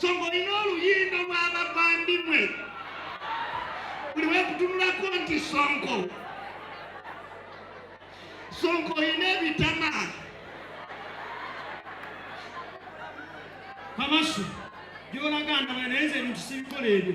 so ng'olina oluyindo lw'abavandimwe buli wekutunulako nti sonko sonko olina ebitama kamasu gyolaga ndaba naye nze ebintu sibikola ebyo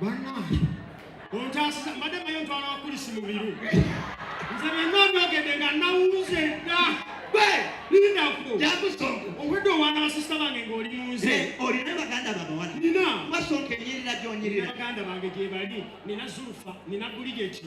Bannange. Ontaasiza mbadde mayo ntwala wakulisi mu biru. Nze byonna byogedde nga nawuze dda. Gwe linda kubo. Jakusonko. Obwedde owaana basista bange ng'oli mu nze. Eh, olina baganda babawala. Nina. Wasonka enyirira gy'onyirira. Baganda bange gyebali. Nina Zulufa. Nina Buligeti.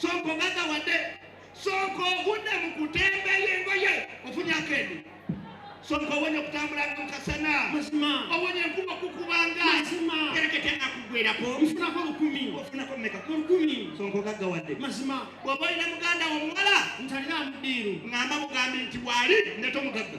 sooka ogaga wadde sooka ogudde mu kutembeya engoye ofunye akendi sooka owonye okutambulanga mu kasana owonye enkuba okukubanga terekete akugwerako nfunako lukumi ofunako meka ku lukumi sooka ogaga wadde mazima bw'oba olina muganda wo omuwala ntalina mudiiru ng'amba mugambi nti waali ndeta omugagga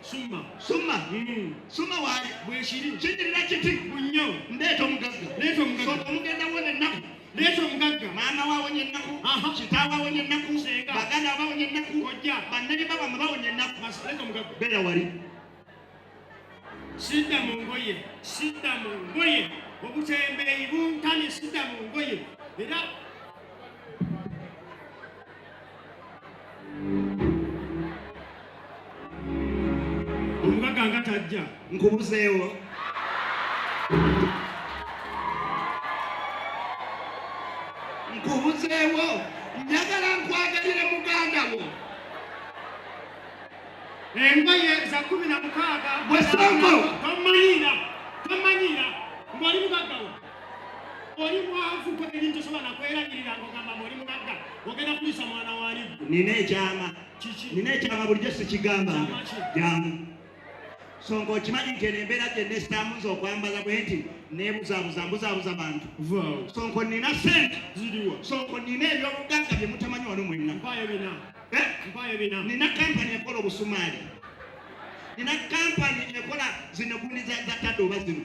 summa summa mm. summa waali bwekiri kinyirira kiti munyo ndeeta omugagga leeta omugagga soka omugenda wona ennaku leeta omugagga maama waawonye ennaku kitaawe awonye ennaku baganda abawonye ennaku kojja bannani babama bawonye ennaku leeta omugagga beera wali sidda mu ngoye sidda mu ngoye obutembeeyi buntane sidda mu ngoye era Omugagga nga tajja nkubuzeewo. Nkubuzeewo njagala nkwagalire muganda wo. Engoye za kumi na mukaaga. Bwe Ssonko. Tommanyiira, tommanyiira, ng'oli mugagga wo. oli mwavu gwe ebintu tosobola nakwerabirira ngogamba muli mugagga ogenda kulisa mwana wali nina ekyama nina ekyama bulijjo sikigamba jamu so ngaokimanyi nti eno embeera gyenna esitamu nze okwambaza bwe nti nebuzabuza mbuzabuza bantu so nko nina sente so nko nina ebyobugagga bye mutamanyi wano mwenna eh? nina kampani ekola obusumaali nina kampani ekola zino gundi za tadde oba zino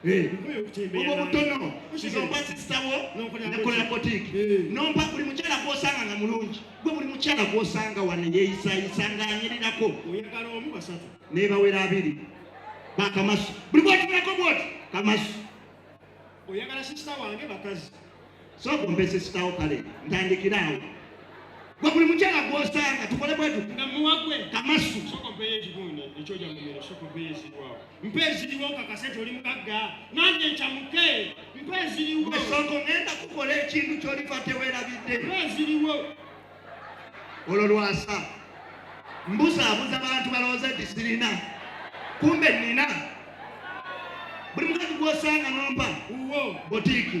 obwo butono nompa sisitawo nakola botiki nompa buli mukyala gwosanga nga mulungi gwe buli mukyala gwosanga wano yeyisayisa nga anyirirako nebawera abiri bakamasu buli bwotulako bwoti kamasu oyagala sisita wange bakazi sooka ompe sisitawo kale ntandikiraawo gwe buli mukyala gwosanga tukole bwetu kamasu mpa eziriwo nkakase nti oli mugagga nange ncamuke mpa eziriwo esongo ngenda kukola ekintu kyolifa tewerabidde mpa eziriwo olwo lwasa mbuzaabuza bantu balowooza nti sirina kumbe nina buli mukazi gwosanga nompa butiiki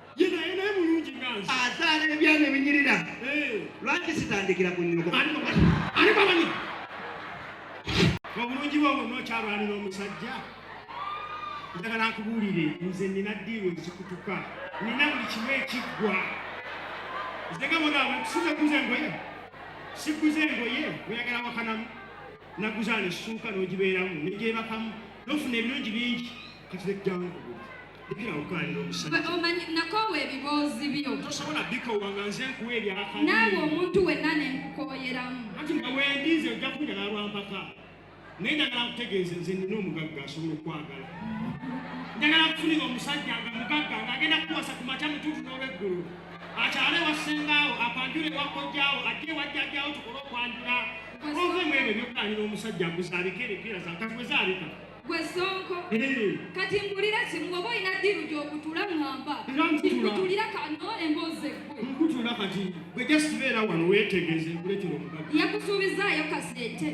ye naye naye mulungi nga nze azaala ebyana ebinyirira eh. lwaki sitandikira ku nyoko ani bamanyi obulungi bwe obwo nokyalwanira omusajja njagala nkubuulire nze nina diiwe ezikutuka nina buli kimu ekiggwa nze nga bona abatusiza kuza engoye sikuza engoye oyagala wakanamu naguzaala essuuka n'ogibeeramu negyebakamu nofuna ebirungi bingi kati lejjangu omanyi nakoowa ebiboozi byo tosobola bikoowa nga nze nkuwa ebyaka naawe omuntu wenna ne nkukooyeramu anti nga wendi nze ojja kunjala lwampaka naye njagala nkutegeeze nze nina omugagga asobola okwagala njagala kufunira omusajja nga mugagga ng'agenda kuwasa ku makya mutuufu n'olweggulo akyale wasengaawo akwanjula ewakojjaawo ajje ewajjajjaawo tukole okwanjula ove mu ebyo ebyokulanira omusajja nguzaalika erekeera zankazi bwe zaalika gwe sonko kati mbulira kimu oba olina ddiiru gyokutula ŋŋamba kikutulira kano emboozi eggwe nkutula kati gwe just beera wano weetegeeze nkuleetera omubaka yakusuubizaayo kasente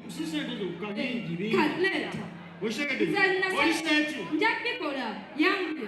sisente zokka bingi bingi kaleeta okitegedde oli sente nja bikola yange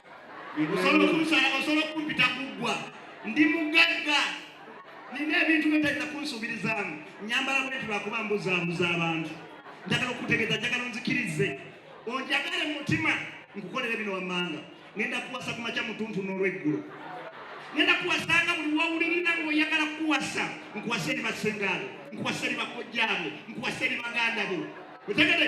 osobola okunsala osobola okumpita kuggwa ndi mugagga nina ebintu byotalina kunsuubirizaamu nyambala bwenti lwakuba mbuzaabuza abantu njagala okutegeeza njagala onzikirize onjagale mu mutima nkukolere bino wammanga ngenda kuwasa ku makya mutuntu n'olweggulo ngenda kuwasanga buli wawulirina ngaoyagala kukuwasa nkuwasa eri basengaabo nkuwasa eri bakojjaabo nkuwasa eri baganda bo otegere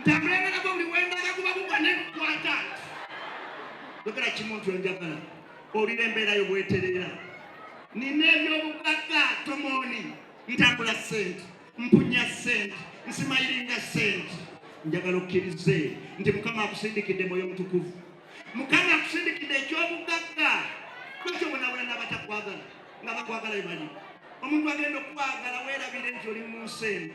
ntambula nga nagwo buli wendala guba gugwa negukwata yogera kimuntu enjagala olira embeerayo bweterera nina ebyobugagga tomooni ntambula sente mpunya sente nsimayiringa sente njagala okkirize nti mukama akusindikidde mwoyo mutukuvu mukama akusindikidde ekyobugagga kwekyo bonabona nabatakwagala nga bakwagala bebali omuntu agenda okukwagala werabire nti oli mu nsi eno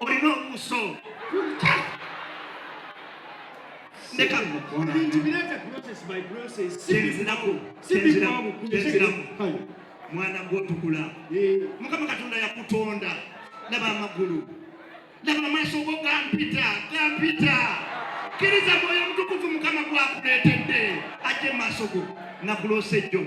olina obuuso mwana gwotukula mukama katonda yakutonda laba amagulu laba amaaso go gampita gampita kiriza mwoyo mutukuvu mukama gwakuleetedde ajje mu maaso go nakuloosa ejjo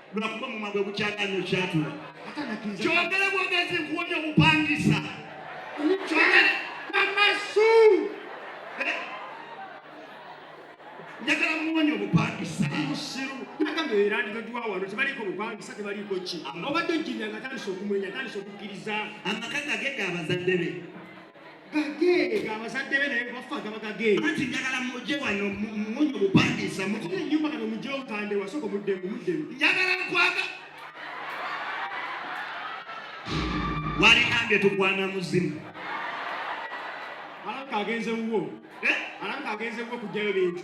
lwakuba mumwa gwe gukyaga nyo kyatula kyogere bwogezi nkuwonye obupangisa kyogere amasu eh? njagala muwonye obupangisa musiru nagamba erandigaduwa wano tebaliiko bupangisa tebaliiko ki obadde ojjinda nga tandisa okumwenya tandisa okukkiriza amaka gage ga bazadde be gagee abazadde be naye bafa gaba gagee anti njagala muje wano munyo bupangisa muko enyumba kano muje okande wasoko mudde mudde njagala nkwaga wali ambye tukwana muzimu alanka agenze wuwo eh? alanka agenze wuwo kujjayo bintu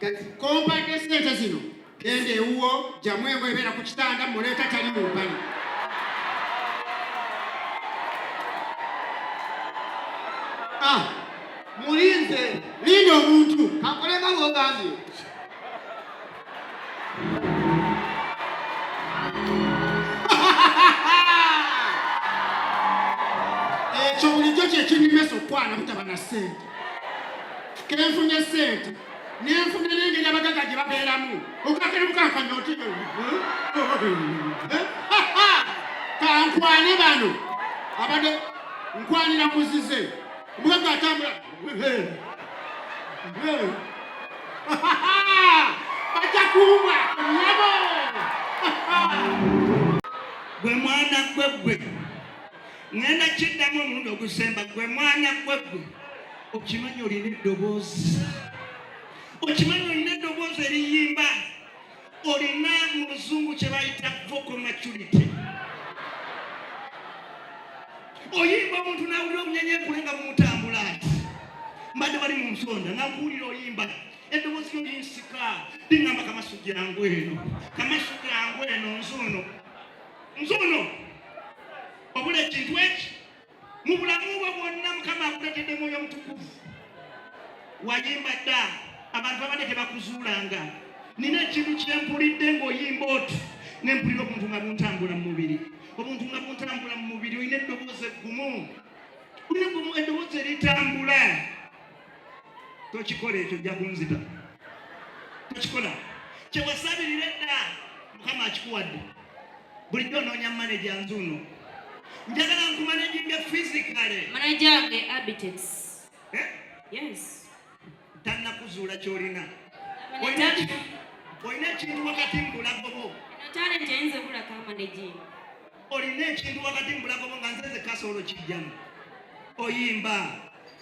kati kompadde sente zino genda ewuwo jamu engo ebeera ku kitanda muleeta tali mu mpale ah, mulinze linda omuntu kakolema wogambye ekyo bulijjo kyekinyumesa okwana butaba na sente kenfunye sente nenfuna nengeri abagaga gye babeeramu okakebukankanya oti kankwane bano abade nkwanira muzize mugagga atambula bajja kuumwa nyabo gwe mwana gwe gwe ŋŋenda kiddamu omulundi ogusemba gwe mwana gwe gwe okimanyi olina eddoboozi okimanyi olina eddoboozi eriyimba olina mu luzungu kye bayita vocal maturity oyimba omuntu nawulira obunyenyenkule nga bumutambula ati mbadde bali mu nsonda nakuwulira oyimba eddoboozi lyo linsika liŋamba kamasu gyangu eno kamasu gyangu eno nzuuno nze ono obula ekintu eki mu bulamu bwe bwonna mukama akuletedde mwoyo omutukuvu wayimba dda abantu abadde tebakuzuulanga nina ekintu kyempulidde ng'oyimba otu ne mpulira obuntu nga buntambula mu mubiri obuntu nga buntambula mu mubiri olina eddoboozi eggumu olina eddoboozi eritambula tokikola ekyo ojja kunzita tokikola kyewasabirira edda mukama akikuwadde bulijjo onoonya maneja nzuuno njagala nkumanejinge fisikale manajange abitex eh? yes tannakuzuula kyolina olina ekintu wakati mubulagobo olina ekintu wakati mubulagobo nga nzeze kasoolo kijjamu oyimba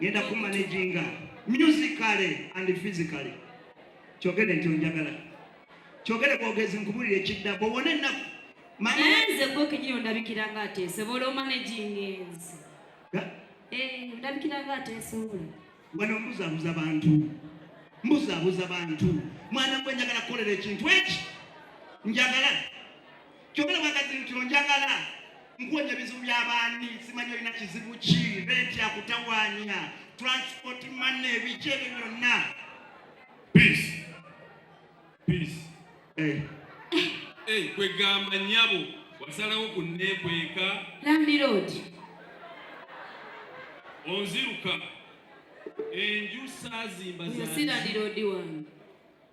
ngenda ku managinga musically and physically kyogere nti onjagala kyogere bwogezi nkubulira ekidda bwowona ennaku manenze gwe kenyini ondabikira nga ateesobola omanaginga enzi eh, ondabikira nga ateesobola wano mbuzabuza bantu mbuzabuza bantu mwana gwe njagala kukolera ekintu eki njagala Kyogera magazini kino njagala nkuwonya ebizibu by'abaani simanyi olina kizibu ki renti akutawaanya transport mane ebiki ebyo byonna peace peace eh. Eh, kwegamba nyabo wasalawo kunneekweka landiroodi onziruka enju saazimba si landiroodi wange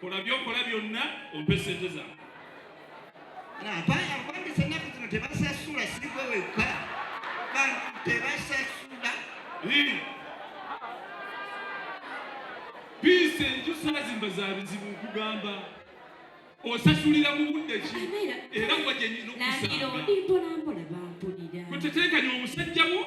kola byokola byonna ompe sente zange abambisa ennaku zino tebasasula sigwe wekka bantu tebasasula biisa enjusazimba za bizibu nkugamba osasulira mu budde ki era gwa gyenyina okusakuteteekanya omusajja wo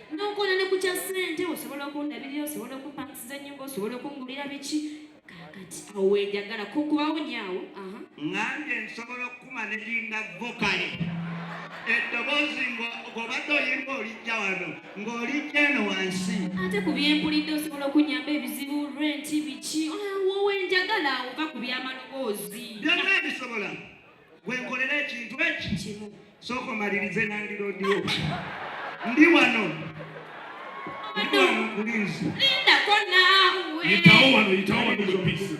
n'okola ne ku kya ssente osobola okundabirira osobola okumpangisiza ennyumba osobola okungulira biki kakati awo wenjagala kukubawo nyaawo ngange nsobola okukuma nelinga vokale eddoboozi ng'obadde oyimba olijja wano ng'olijja eno wansi ate ku byempulidde osobola okunyamba ebizibu renti biki ah, wowe njagala ova ku byamaloboozi byonna bisobola wenkolera ekintu ekikimu sooka omalirize nandirodio ndi wano ndi wano kulinzi lindako naawe yitawo wano yitawo wano mubisi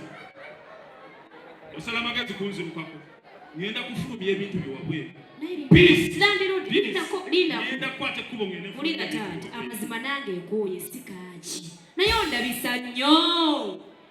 osala amagezi kunzirukako ngenda kufulumya ebintu byewabweru ngenda kukwata ekkubo ngendeulira taata amazima nange ekooye sikaaki naye ondabisa nnyo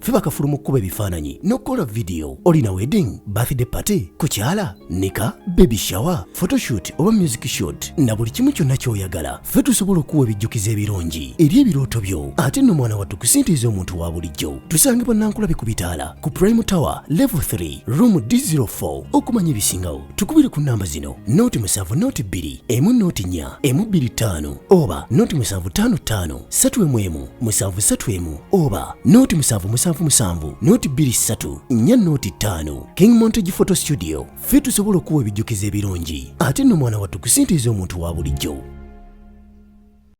ffe bakafulu mu kkuba ebifaananyi n'okukola vidiyo olina wedding birthday party kukyala nika baby shower photoshoot oba music shot na buli kimu kyonna ky'oyagala ffe tusobola okuwa ebijjukizo ebirungi eri ebirooto byo ate nno mwana wattu kusintiiza omuntu wa bulijjo tusange bannankulabe ku bitaala ku prime tower level 3 room d04 okumanya ebisingawo tukubire ku nnamba zino nooti musanvu nooti bbiri emu nooti nnya emu bbiri ttaano oba nooti musanvu ttaano ttaano satu emu emu musanvu satu emu oba nooti musanvu musanvu musanvu nooti bbiri ssatu nnya nooti ttaano king montage photo studio ffe tusobola okuwa ebijjukizo ebirungi ate nno mwana wattu kusintiiza omuntu wa bulijjo